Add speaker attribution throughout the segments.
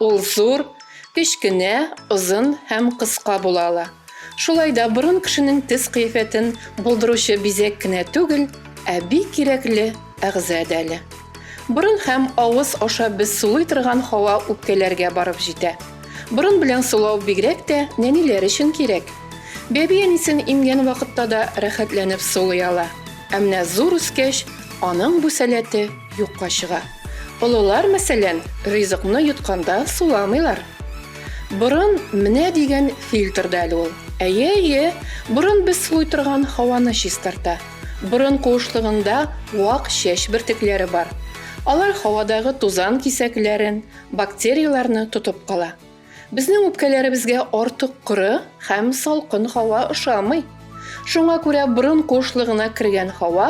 Speaker 1: Ул зур, кечкенә, озын һәм кыска була ала. Шулай да борын кешенең тез кыяфәтен булдыручы бизәк кенә түгел, ә бик кирәкле әгъза дә әле. Борын һәм авыз аша без сулый торган һава үпкәләргә барып җитә. Борын белән сулау бигрәк тә нәниләр өчен кирәк. Бәби әнисен имгән вакытта да рәхәтләнеп сулый ала. Ә менә зур үскәч, аның бу сәләте юкка чыга. Олылар, мәсәлән, ризыкны йотканда суламыйлар. Борын менә дигән фильтр да әле ул. Әйе, әйе, борын без сулый торган һаваны чистарта. Борын куышлыгында вак чәч бөртекләре бар. Алар һавадагы тузан кисәкләрен, бактерияләрне тотып кала. Безнең үпкәләребезгә артык коры һәм салкын һава ошамый. Шуңа күрә борын куышлыгына кергән һава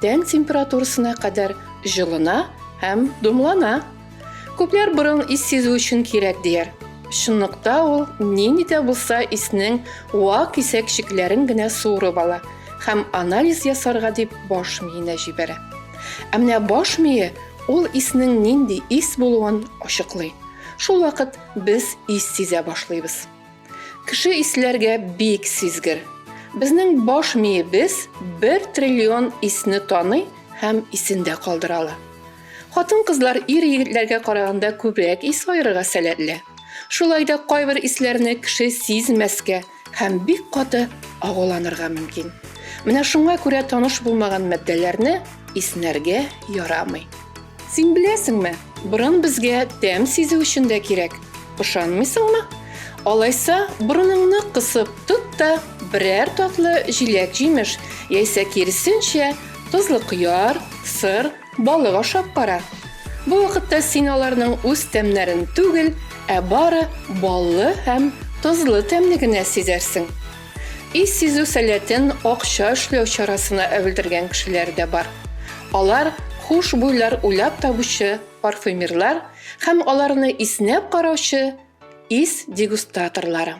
Speaker 1: тән температурасына кадәр җылына һәм думлана. Күпләр борын ис сизү өчен кирәк дияр. Чынлыкта ул нинди дә булса иснең вак кисәкчекләрен генә суырып ала һәм анализ ясарга дип баш миенә җибәрә. Ә менә баш мие ул иснең нинди ис булуын ачыклый. Шул вакыт без ис сизә башлыйбыз. Кеше исләргә бик сизгер. Безнең баш миебез бер триллион исне таный һәм исендә калдыра ала. Хатын-кызлар ир-егетләргә караганда күбрәк ис аерырга сәләтле. Шулай да кайбер исләрне кеше сизмәскә һәм бик каты агуланырга мөмкин. Менә шуңа күрә таныш булмаган матдәләрне иснәргә ярамый. Син беләсеңме, борын безгә тәм сизү өчен дә кирәк. Ышанмыйсыңмы? Алайса, борыныңны кысып тот та, берәр татлы җиләк-җимеш, яисә киресенчә, тозлы кыяр, сыр, Балык ашап кара. Бу вакытта син аларның үз тәмнәрен түгел, ә бары баллы һәм тозлы тәмне генә сизәрсең. Ис сизү сәләтен акча эшләү чарасына әвелдергән кешеләр дә бар. Алар хушбуйлар уйлап табучы парфюмерлар һәм аларны иснәп караучы ис дегустаторлары.